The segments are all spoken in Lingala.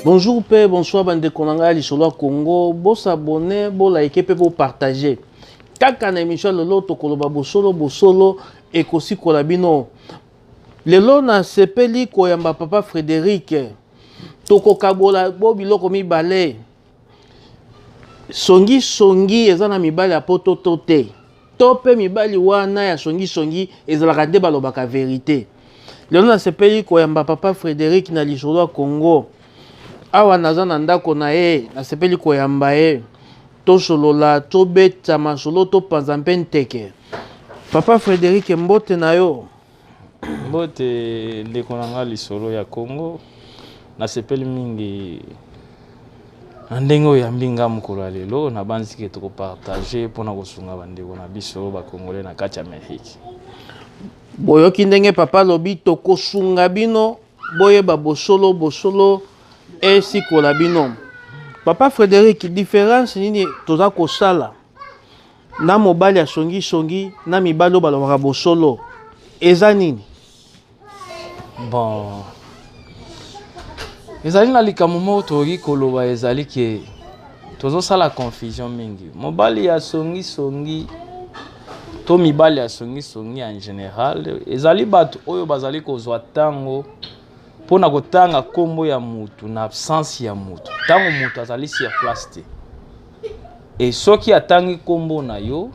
bonjour mpe bonsoir bandeko na ngai ya lisolo ya congo bosabone bolaike mpe bopartage kaka na émission ya lelo tokoloba bosolo bosolo ekosikola bino lelo nasepeli koyamba papa frédéric tokokabola bo biloko mibale songi songi eza na mibali ya poto to te to mpe mibali wana ya songi songi ezalaka nde balobaka verite lelo nasepeli koyamba papa frédéric na lisolo ya congo awa naza na ndako na ye nasepeli koyamba ye tosolola tobeta masolo topanza mpe nteke papa frédéric mbote na yo Mbote ndeko na nga lisolo ya Congo nasepeli mingi na ndenge oyambi nga mokolo ya lelo nabanzi ke tokopartage mpo na kosunga bandeko na biso bakongole na kati ya amerike boyoki ndenge papa alobi tokosunga bino boyeba bosolo bosolo esikola bino papa frédéric différence nini toza kosala na mobali ya songisongi na mibali oyo balobaka bosolo eza nini bon ezali na likambo moko tokoki koloba ezali ke tozosala confusion mingi mobali ya songisongi to mibali ya songisongi en general ezali bato oyo bazali kozwa ntango mpo na kotanga nkombo ya motu na absence ya motu ntango motu azali sur place te e soki atangi nkombo na yo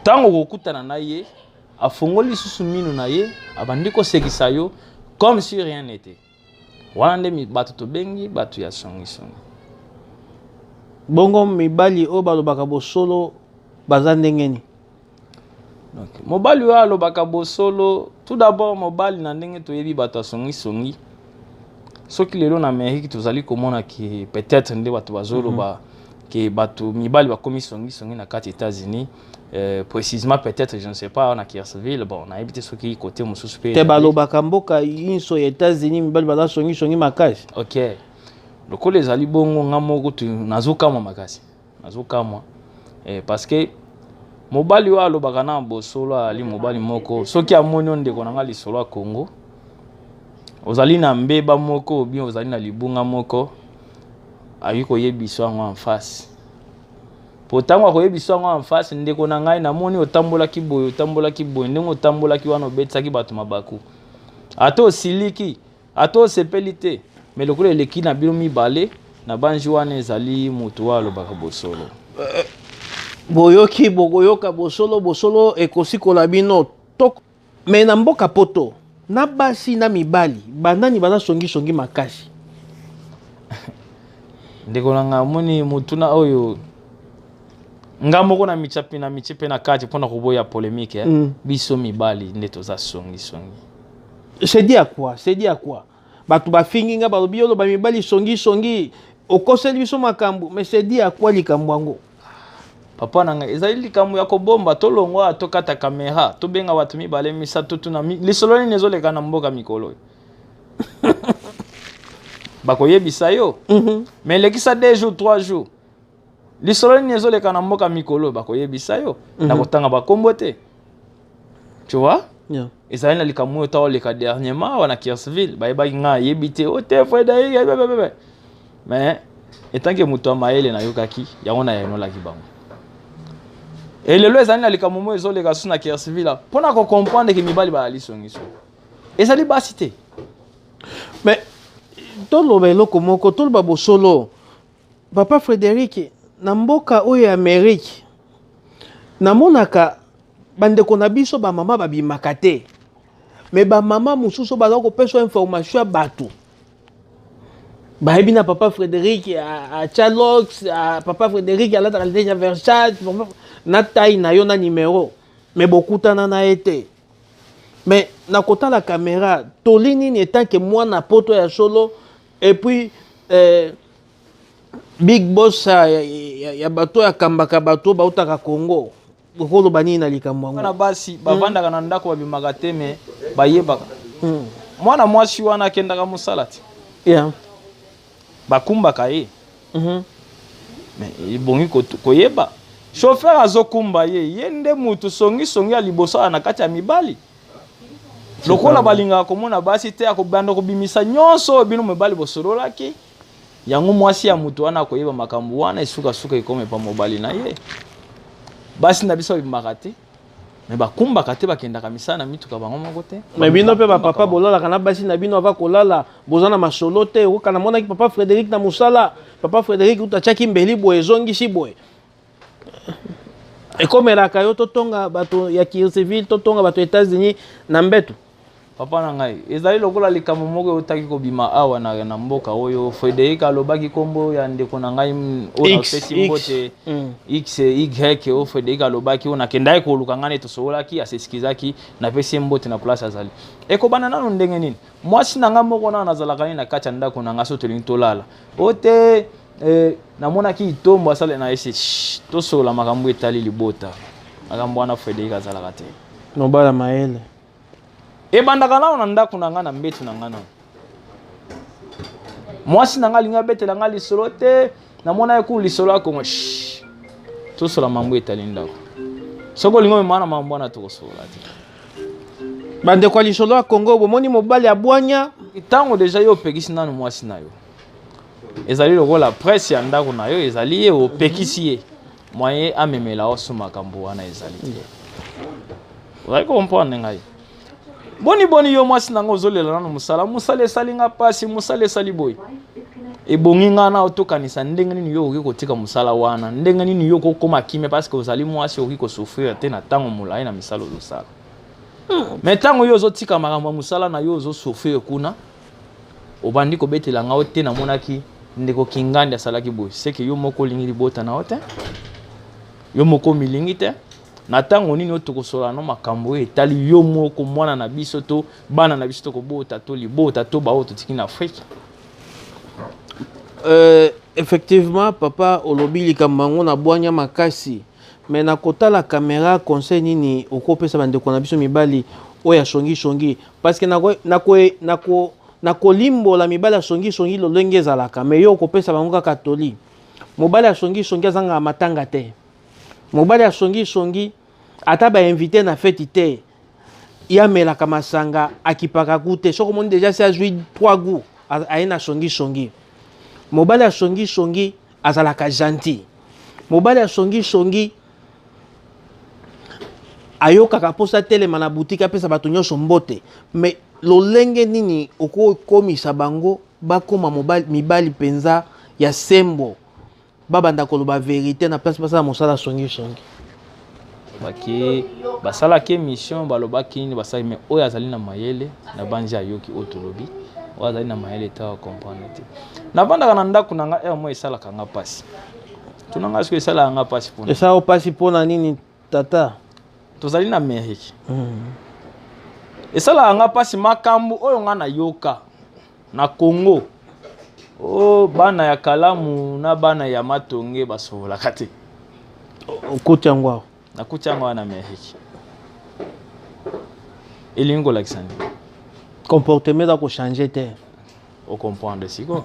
ntango okokutana na ye afongoli lisusu minu na ye abandi kosekisa yo comme si rien n'était wana nde bato tobengi bato ya songisongi bongo mibali oyo balobaka bosolo baza ndenge nini okay. mobali oyo alobaka bosolo tout d'abord mobali na ndenge toyebi bato ya songisongi soki lelo na amerike tozali komona ke peut-être nde bato bazoloba mm -hmm. ke bato mibali bakomi songisongi na kati etats-unis Euh, précisément peut-être je ne sais pas na Kiersville bon nayebi te soki côté mosusu mpe te balobaka mboka inso ya états-unis mibali baza songisongi makasi ok lokola ezali bongo nga moko nazokamwa makasi nazokamwa eh, parce que mobali oyo alobaka na bosolo ali mobali moko soki amoni ondeko na nga lisolo ya congo ozali na mbeba moko obien ozali na libunga moko ayi koyebisa yango en face po ntango akoyebisa yango en face ndeko na ngai namoni otambolaki boye otambolaki boye ndenge otambolaki wana obetisaki bato mabaku ata osiliki ata osepeli te me lokola eleki na bino mibale na banji wana ezali moto oyo alobaka bosolo boyoki bokoyoka bosolo bosolo ekosikola bino Mais na mboka poto na basi na mibali banani baza songi songi makasi ndeko na ngai omoni motuna oyo nga moko na micapi na mici mpe na kati mpo na koboya polemike eh? mm. biso mibali nde toza songisongi sedi akwa sedi akwa bato bafingi nga balobi oloba mibali songisongi okoseli biso makambo mais sedi akwa likambo yango papa na ngai ezali likambo ya kobomba tolongwa tokata kamera tobenga bato mibale misato tuna lisolo nini ezoleka na mboka mikolo oyo bakoyebisa yo mhm. mais elekisa deux jours trois jours lisolo nini ezoleka na mboka mikolo oyo bakoyebisa yo mhm. na kotanga bakombo te tu vois yeah. ezali na likambo oyo ntango oleka dernièrement awa na kirsville bayebaki ngai ayebi te o te frederic ebebebebe mais etanke moto ya mayele nayokaki yango nayanolaki bango elelo ezali na likambo moko ezoleka susu na kirsville mpo na kocomprendre ke mibali balali songiso ezali basi te mais toloba eloko moko toloba bosolo Papa Frederic, na mboka oyo ya Amerique, namonaka bandeko na biso bamama babimaka te me bamama mosusu baza kopesa information ya bato bayebi na papa frédéric atya lox papa frédéric alataka liteshi ya versage na tai na yo na nimero me bokutana na ye te me na kotala kamera toli nini etanke mwana poto ya solo et puis eh, big boss ya, ya, ya, ya bato oyo akambaka bato oyo bautaka congo okoloba nini na likambo yango bana basi bavandaka na ndako babimaka te me bayebaka Hmm. mwana mwasi wana akendaka mosala te Yeah. bakumbaka ye Mhm. me ebongi kotu- koyeba chauffeur azokumba ye ye nde motu songisongi ya liboso aza na kati ya mibali lokola balingaka komona basi te akobanda kobimisa nyonso oyo bino mobali bosololaki yango mwasi ya moto wana akoyeba makambo wana esukasuka ekoma epa mobali na ye basi na biso babimaka te me bakumbaka te bakendaka misala na mituka bango moko te me bino mpe bapapa bolalaka na basi na bino ava kolala boza na masolo te okana monaki papa frédéric na mosala papa frédéric uta atyaki mbeli boye ezongisi boye ekomelaka yo totonga bato ya kirceville totonga bato ya états-unis na mbetu papa na ngai ezali lokola likambo moko eutaki kobima awa na, na mboka oyo frédéric alobaki nkombo ya ndeko na ngai oyo napesi mbote x y oyo frédéric alobaki oyo nakendaki koluka ngai neti tosololaki aseskizaki napesi ye mbote na place azali ekobanda nano ndenge nini mwasi na ngai moko nano nazalaka ye na kati ya ndako na ngai so tolingi tolala oyo te Eh, namonaki itombo asala na ese tosolola makambo etali libota makambo wana frédéric azalaka te nobala mayele ebandaka nano na ndako na ngai na mbetu na ngai nano mwasi na ngai alingi abetela ngai lisolo te namonaki kulu lisolo ya kongo tosola mambo etali ndako soki olingi omema na mambo wana tokosolola te bandeko ya lisolo ya kongo bomoni mobali ya bwanya ntango deja yo opekisi nano mwasi na yo ezali lokola presse ya ndako na yo ezali ye opekisi ye moyen amemela yo so makambo wana ezali te ozali kocomprendre ngai boni boni yo mwasi na ngai ozolela nano mosala mosala esali nga mpasi mosala esali boye ebongi ngai na otokanisa ndenge nini yo okoki kotika mosala wana ndenge nini yo okokoma kimia parceke ozali mwasi okoki kosouffrir te na ntango molai na misala ozosala hmm. mai ntango yo ozotika makambo ya mosala na yo ozosouffrir kuna obandi kobetela nga te namonaki ndeko kingandi asalaki boye seke yo moko olingi libota na yo te yo moko omilingi te na ntango nini oyo tokosola no makambo oyo etali yo moko mwana na biso to bana na biso tokobota to libota to baoyo totiki na afrike euh, effectivement papa olobi likambo yango na bwanya makasi me na kotala kamera conseil nini okopesa bandeko na biso mibali oyo asongisongi parce que nako nako nako nakolimbola mibali ya songisongi lolenge ezalaka me yo okopesa bango kaka toli mobali ya songisongi azangaka matanga te mobali ya songisongi ata bainvite na feti te ye amelaka masanga akipaka gu te soki omoni deja si azwi 3 gu aye na songisongi mobali ya songisongi azalaka gentil mobali ya songisongi ayokaka mposa atelema na butiki apesa bato nyonso mbote me lolenge nini okokomisa bango bakoma mibali mpenza ya sembo babanda koloba verite na place basala mosala songisongi bake basalaki émission balobaki nini basali me oyo azali na mayele na banzi ayoki oyo tolobi oyo azali na mayele te acomprendre te navandaka na ndako na ngai heure moi esalaka ngai mpasi tuna ngai soki esalaka ngai mpasi mpona esala mpasi mpona nini tata tozali na amerike hmm. esalaka ngai mpasi makambo oyo ngai nayoka na congo o bana ya kalamu na bana ya matonge basobolaka te okoti yango awa nakuti yango wana amerike elingi kolakisa nini comportement eza kochange te ocomprendre siko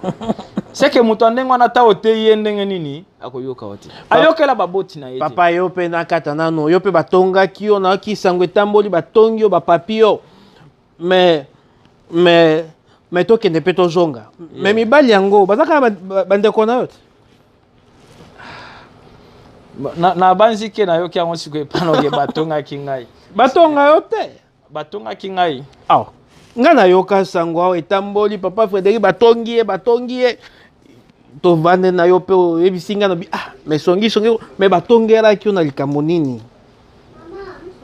seke moto ya ndenge wana ata oteyi ye ndenge nini akoyoka yo te ayokela baboti na ye papa yo mpe nakata nano yo mpe batongaki yo nayoki sango etamboli batongi yo bapapi yo mais mais mais tokende mpe tozonga mais mibali yango bazalaka bandeko na yo te nabanzi ke nayoki yango sikoyo epanoke batongaki ngai batonga yo te batongaki ngai awa ngai nayoka sango awa etamboli papa frédérik batongi ye batongi ye tovande na yo mpe oyebisi ngai nabi ah mais songi songi mais batongelaki yo na likambo nini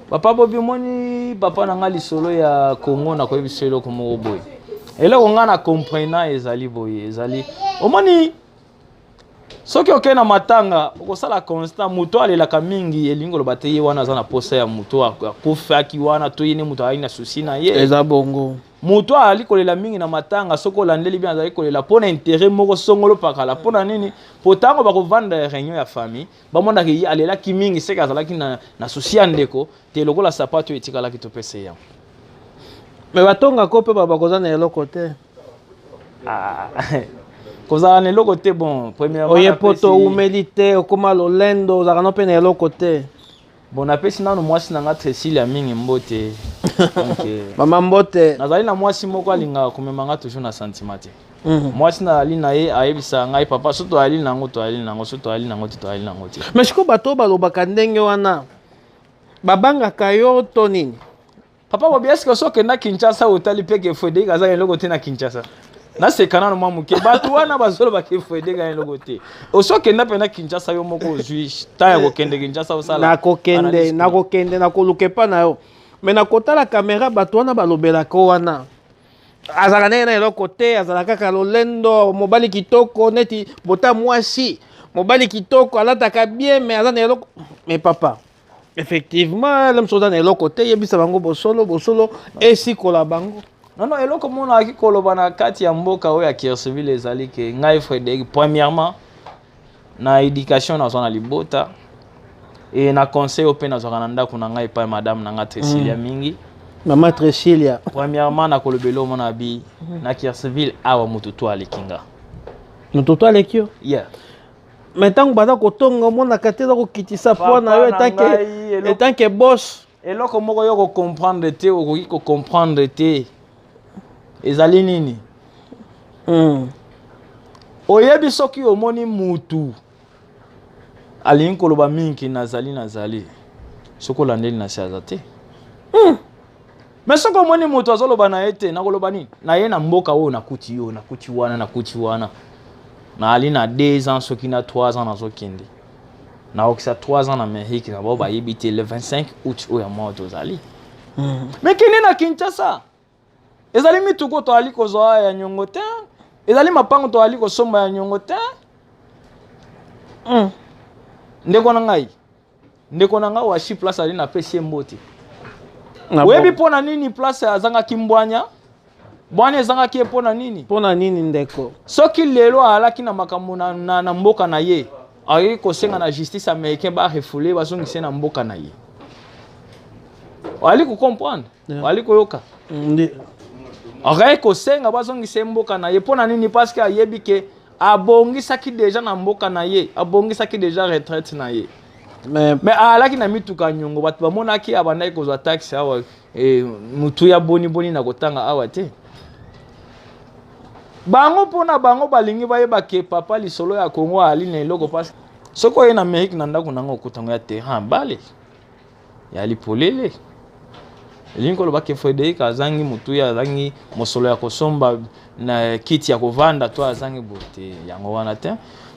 papa bobi omoni papa na ngai lisolo ya congo nakoyebisa eloko moko boye eloko ngai na comprena ezali boye ezali omoni soki okei na matanga okosala constant moto alelaka mingi elingi koloba te ye wana aza na posa ya moto akufaki wana to ye ne moto azalaki na susi na ye eza bongo moto azali kolela mingi na matanga soki olandeli bien azali kolela mpo na intere moko songolo pakala mpo na nini mpo ntango bakovanda ya réunion ya famille bamonaka ye alelaki mingi seke azalaki na, na susi ya ndeko te lokola sapato etikalaki topesa yango me batongako mpe bakozala na eloko te Ah. kozala na eloko te bon premièrement oye poto oumeli te okoma lolendo ozalaka no mpe na eloko te bon napesi nano mwasi na nga cecilia mingi mbote euh, mama mbote nazali na mwasi moko alingaka komema nga toujours na sentiment te mhm. mwasi nazali na ye ayebisaka ngai papa so toyali na yango toyali na yango so toyali na yango te toyali na yango te mais sikoyo bato oyo balobaka ndenge wana babangaka yo to nini Papa Bobi, est-ce que soki okenda Kinshasa otali mpe ke Frederic aza na eloko te na Kinshasa? naseka nano mwa moke bato wana bazoloba ke Frederic aza na eloko te osi okenda mpe na Kinshasa yo moko ozwi ntango ya kokende Kinshasa osala nakokende nakokende nakoluka epa na yo me nakotala kamera bato wana balobelaka wana azalaka ndenge na eloko te azalaka kaka lolendo mobali kitoko neti bota mwasi mobali kitoko alataka bien me aza na eloko me papa effectivement lem soza na eloko te yebisa bango bosolo bosolo esikola bango non non eloko mona aki koloba na kati ya mboka oyo ya kirseville ezali ke ngai frédéric premièrement na éducation nazwa na libota e na conseil oyo mpe nazwaka na ndako na ngai epai madame na ngai tresilia mm. mingi mama tresilia premièrement nakolobela omona bi na kirseville awa motutu aleki nga motutu aleki yo yeah me ntango baza kotonga omonaka te eza kokitisa poa na yo etanke bos eloko moko yo okocomprendre te okoki kocomprendre te ezali nini mm. oyebi soki omoni mutu alingi koloba mingi nazali nazali soki olandeli na se aza te mm. me soki omoni moto azoloba na ye te nakoloba nini na ye na mboka oyo nakuti yo nakuti wana nakuti wana naali na 2 ans soki na 3 ans nazokende naokisa 3 ans na amerike na bao bayebi te le 25 août oyo ya mwa tozali hmm. me kende na kinshasa ezali mituko toali kozwa ya nyongo te ezali mapango toali kosomba ya nyongo te hmm. ndeko na ngai ndeko na ngai washi place ali napesi ye mbote oyebi mpo na nini place azangaki mbwanya bwana ezangaki ye mpo na nini mpo na nini ndeko soki lelo alaki na makambo na, na, na mboka na ye akoki kosenga na justice américain barefule bazongise na mboka na ye oali kocomprendre oali koyoka akaki kosenga bazongisa ye mboka na ye mpo na nini parceke ayebi ke abongisaki deja na mboka na ye abongisaki deja retraite na ye mais alaki na mituka nyongo bato bamonaki abandaki kozwa taxe awa eh, motu ya boniboni na kotanga awa te bango mpo na bango balingi bayeba ke papa lisolo ya kongo ali na eloko mpasi soki oye na amerike na ndako na yango okutango ya terrain bale ya lipolele elingi koloba ke frederic azangi motuya azangi mosolo ya kosomba na kiti ya kovanda to azangi boye te yango wana te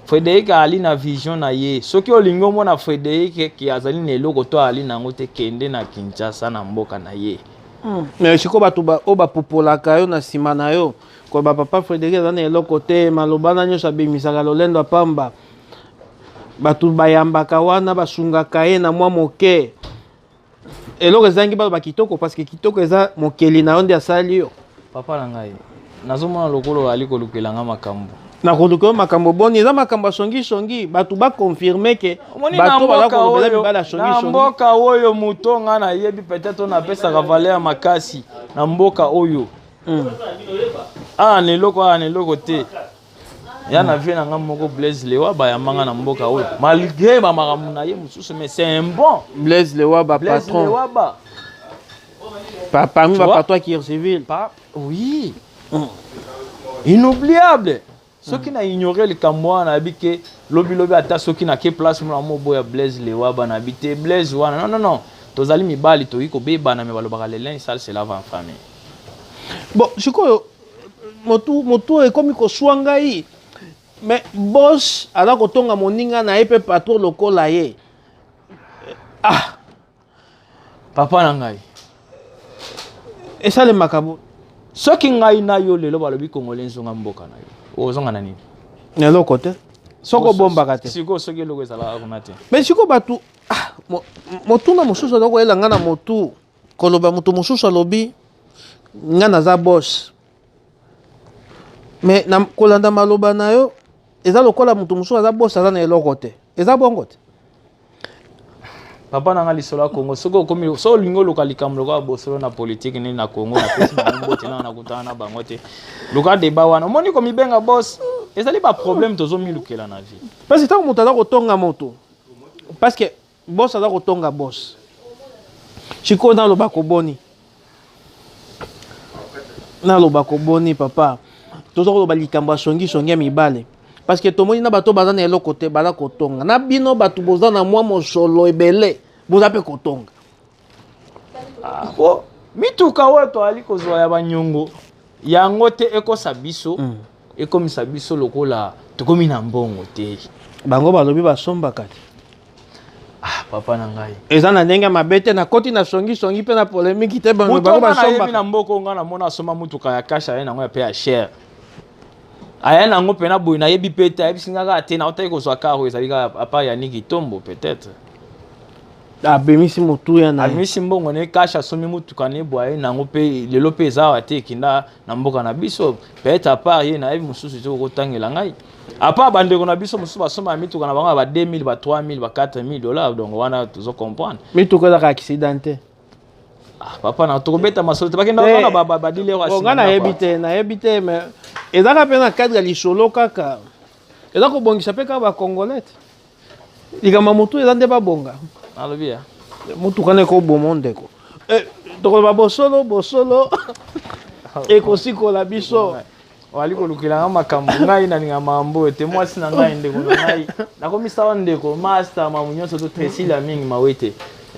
frederic ali na vision na ye soki olingi omona frederic ke azali na eloko to ali na yango te kende na kinshasa na mboka na ye hmm. mais siko bato oyo bapupolaka yo na nsima na yo koloba papa frederic aza na eloko te maloba na nyonso abimisaka lolendo ya pamba bato bayambaka wana basungaka ye na mwa moke eloko ezangi baloba kitoko parce que kitoko eza mokeli na yo nde asali yo papa na ngai nazomona lokolo ali kolukela nga makambo nakoluka yo makambo boni eza makambo ya songisongi bato bakonfirme ke bato baza kolobela mibali ya songisongi mboka oyo moto nga nayebi peut-être oyo napesaka valeur makasi na mboka oyo hmm. awa ah, na eloko awa ah, na eloko te ya na vie na nga moko blaise lewa bayamba nga na mboka oyo malgré bamakambo na ye mosusu mais c'est un bon blaise lewa ba patron lewa ba pa, parmi ba patron ya kircivil pa oui mm. inoubliable soki na ignore likambo wana nayebi ke lobilobi ata soki nake place mona moboya blaise lewa ba nayebi te blaise wana non non non tozali mibali toyei kobebana me balobaka lelin sale selava en famille bon sikoyo motu motu ekomi koswa ngai mais bos aza kotonga moninga na ye mpe patro lokola ye ah papa na ngai esalemaka bo soki ngai na yo lelo balobi kongole nzonga mboka na yo ozonga na nini na eloko te soki obombaka te sikoyo soki eloko ezalaka kuna te mais sikoyo bato ah, motuna mosusu aza koyela ngai na motu koloba moto mosusu alobi nga naza bos mais na kolanda maloba na yo eza lokola moto mosusu aza bos aza na eloko te eza bongo te papa na nga lisolo ya congo soki okomi so olingi oluka likambo lokola bosolo na politike nini na congo napesi bango mbote nao nakutana na bango te luka deba wana omoni komibenga bos ezali baproblème tozomilukela na vie parce que ntango moto aza kotonga moto parce que Boss aza kotonga boss. Chiko na loba ko boni. Na loba ko boni papa. Tozo ko loba likambo ya songi songi ya mibale. Parce que tomoni na bato baza na eloko te baza kotonga. Na bino bato boza na mwa mosolo ebele boza pe kotonga. Ah, po mituka oyo toali kozwa ya banyongo yango te ekosa biso mm. ekomisa biso lokola tokomi na mbongo te bango balobi basombaka te ah, papa na ngai eza na ndenge mabe te nakoti na songisongi mpe na polemiki te bango basombaka na mboka oyo ngai namona asomba motuka ya kashe aye nango ya mpe ya chere aya nango mpe na boye nayebi mpe te ayebisi ngai kaka te naotaki kozwa karo ezali kaka apart ya niki tombo peut-être abimisi motuya na abimisi mbongo ne kasha asombi motuka ne bwaye nango mpe lelo mpe eza awa te ekinda na mboka na biso peut-être apart ye nayebi mosusu te okotangela ngai apart bandeko na biso mosusu basombaka mituka na bango ya ba 2000 ba 3000 ba 4000 dollars donc wana tozo comprendre mituka ezaka accident te ah, papa na tokobeta masolo te bakenda wana badilero oh, nga nayebi te nayebi te mais ezaka mpe na cadre ya lisolo kaka eza kobongisa mpe kaka bacongolais te likambo ya motu eza nde babonga alobi ya motuka na ekoboma ndeko eh, tokoloba bosolo bosolo ekosikola biso wali kolukela nga makambo ngai nalinga mambo te mwasi na ngai ndeko na ngai nakomisawa ndeko masta mamu nyonso to tresila mingi mawe te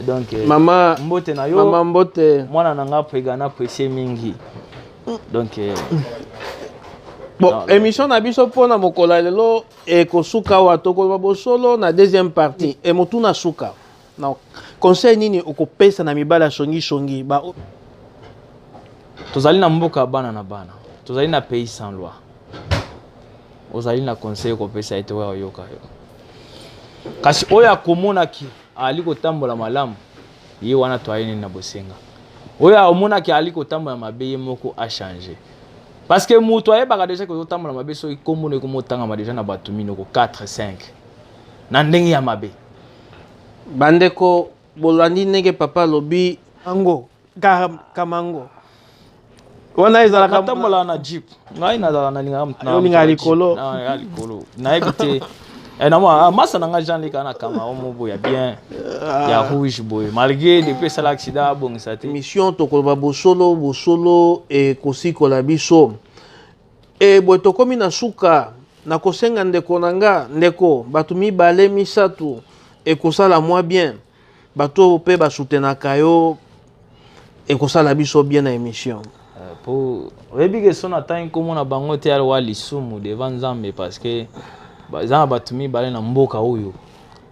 donc eh, mama mbote na yo mama mbote mwana na nga pega na presie mingi donc eh, bon émission na biso mpo na mokolo ya lelo ekosuka awa tokoloba bosolo na deuxième partie e motu na suka na conseil nini okopesa na mibali ya songisongi ba tozali na mboka ya bana na bana tozali na pays sans loi ozali na conseil okopesa ye te oyo ayoka yo kasi oyo akomonaki aali kotambola malamu ye wana toyei nini na bosenga oyo amonaki aali kotambola mabe ye moko achange parce que moto ayebaka deja ke ozotambola mabe soki nkombo no ekomotangama deja na bato minoko 4 5 na ndenge ya mabe bandeko bolandi ndenge papa alobi yango kamango wana ezalaka natambola na jeep ngai nazala nalingaka likolo nayebi te Eh, na mwa ah, masa na ngai jean leka na kanga omo boya bien ah. ya rouge boye malgré depuis esala accident abongisa te mission tokoloba bosolo bosolo ekosikola biso e boye tokomi na suka nakosenga ndeko na nga ndeko bato mibale misato ekosala mwa bien bato oyo mpe basutenaka yo ekosala biso bien na émission euh, po oyebi ke so natangi nkombo na bango te alwa lisumu devant nzambe parce que eza na bato mibale na mboka oyo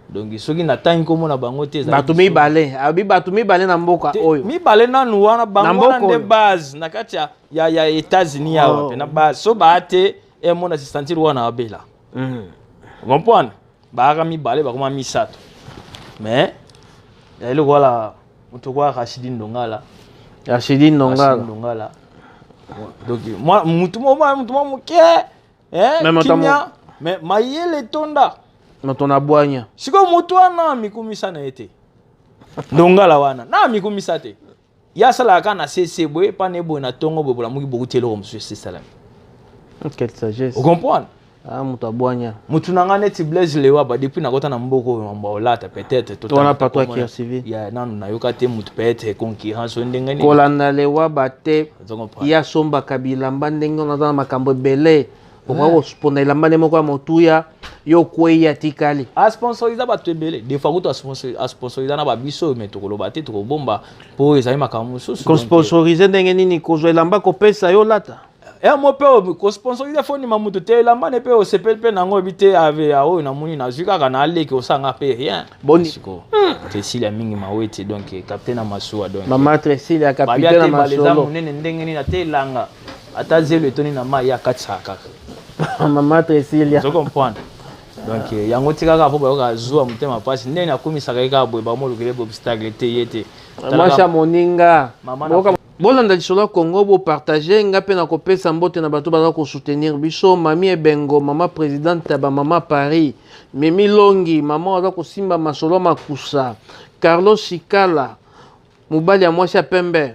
donc soki natangi nkombo na bango te bato mibale abi bato mibale na mboka oyo mibale nanu wana bango wana nde base na kati ya, ya, ya états-unis yawa oh. wape na base so baa te emona sisantiri wana abela mm. comprendre baaka mibale bakoma misato mais ezali lokola moto okoya rachidi ndongala rachidi ndongala donc motu mwa moke kimia mais mayele etonda moto na bwanya sikoyo motu wana mikumisa na ye te ndongala wana na mikumisa te ye asalaka kaka na sese boye epa na ye boye na ntongo boye bolamuki bokuti eloko mosusu esisalami quelle sagesse ocomprendre ah, moto abwanya motu na ngai neti blaise lewaba depuis nakota na mboka oyo mambo olata peut-être totwana patwa kirsivi ya nanu nayoka te motu peut-être concurrence oyo ndenge nini kolanda lewaba te ye asombaka bilamba ndenge wana aza na makambo ebele okoki kosponda elamba nde moko ya motuya yo okwei atikali asponsorisa bato ebele defa kutu asponsorisa na babiso me tokoloba te tokobomba mpo ezali makambo mosusu kosponsorise ndenge nini kozwa elamba kopesa yo lata yango mpe kosponsorisa fondima moto te elamba ne mpe osepeli mpe nango oyebi te ave ya oyo namoni nazwi kaka na aleki osanga mpe rien bonisiko hmm. tresilia mingi maweti donc capitaine ya masuwa donc mama tresilia capitaine ya masolo monene ndenge nini ate elanga ata zelo etoni na mai ye akatisaka kaka mama tresilia ozo comprendre donc eh, yango ti kaka mpo bayoka zuwa motema mpasi ndenge nakumisaka ye kaka boye bamolukele bobstacle te ye te masha moninga bolanda lisolo ya congo bopartage nga mpe nakopesa mbote na bato baza kosoutenir biso mami ebengo mama presidente ya bamama paris mimi longi mama oyo aza kosimba masolo ya makusa carlos sikala mobali ya mwasi ya pembe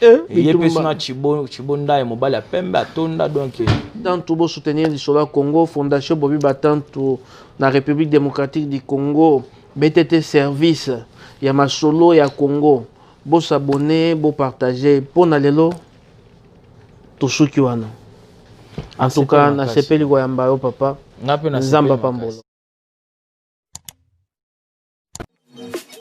Eh, ye mpe suna chibondaye mobali ya pembe atonda donc tantu bosoutenir lisolo ya congo fondation bobi batantu na république démocratique du congo btt service ya masolo ya congo bosabone bopartage mpo na lelo tosuki wana en tout cas nasepeli koyamba yo papa nzambe apambola